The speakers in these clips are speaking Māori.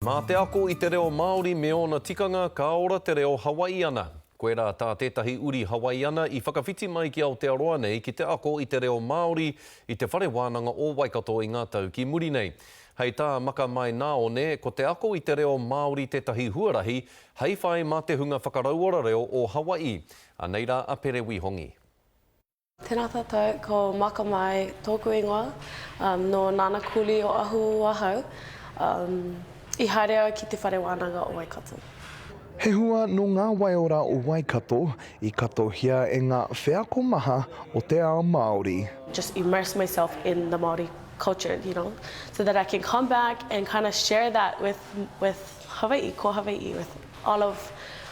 Mā te ako i te reo Māori me ōna tikanga ka ora te reo Hawaiiana. Koirā tā tētahi uri Hawaiiana i whakawhiti mai ki Aotearoa nei ki te ako i te reo Māori i te Whare Wānanga o Waikato i ngā tau ki muri nei. Hei tā Makamaenaone, ko te ako i te reo Māori tētahi huarahi hei whai mā te hunga whakarauora reo o Hawaii. Anei rā a Pere Wihongi. Tēnā tātou, ko Maka Mai tōku ingoa, um, nō Nana Kuli o Ahuhu ahau, um, i haere au ki Te Whare Wānanga o Waikato. He hua nō ngā waiora o Waikato i katohia e ngā wheako maha o te ao Māori. just immerse myself in the Māori culture, you know, so that I can come back and kind of share that with, with Hawai'i, ko Hawai'i with all of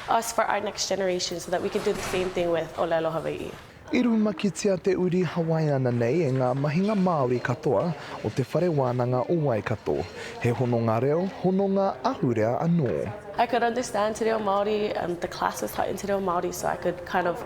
us for our next generation so that we can do the same thing with Olelo Hawai'i. I rumakitia te uri Hawaiiana nei e ngā mahinga Māori katoa o Te Whare Wānanga o Waikato. He hononga reo, hononga ahurea anō. I could understand te reo Māori and the classes taught in te reo Māori so I could kind of.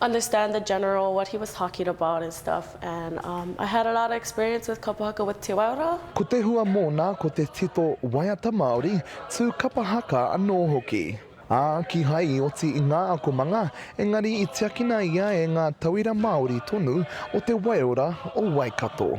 understand the general what he was talking about and stuff and um I had a lot of experience with kapa haka with Te Waiora. Ko te hua mōna ko te tito waiata Māori, tū kapa haka anō hoki. Ā, kīhai i oti i ngā akomanga, engari i tiakina ia e ngā tauira Māori tonu o te waiora o Waikato.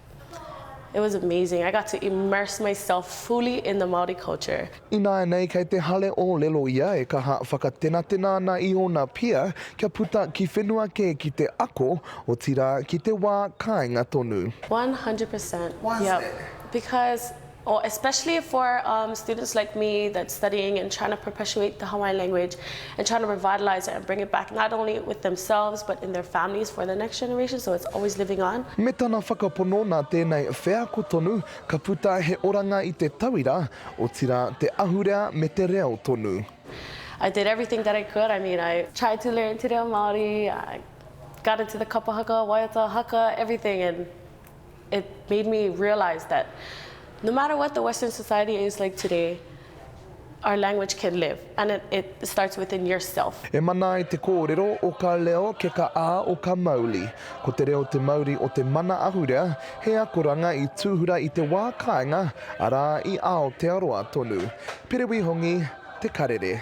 It was amazing, I got to immerse myself fully in the Māori culture. Ināianei kei te hale ōlelo ia e kaha whakatenatena ana i ōna pia kia puta ki whenua kē ki te ako, otirā ki te wā kāinga tonu. One hundred per cent, yep, because Oh especially for um students like me that's studying and trying to perpetuate the Hawaiian language and trying to revitalise it and bring it back not only with themselves but in their families for the next generation so it's always living on. Me tana whakapono nā tēnei wheako tonu ka puta he oranga i te tauira, otirā te ahurea me te reo tonu. I did everything that I could, I mean I tried to learn te reo Māori, I got into the kapa haka, waiata haka, everything and It made me realise that no matter what the Western society is like today, our language can live and it, it starts within yourself. E mana ai te kōrero, o ka leo, ke ka a, o ka mauli. Ko te reo te mauri o te mana ahurea, he akoranga i tūhura i te wā kāinga, arā, i Aotearoa tonu. Perewi Hongi, Te Karere.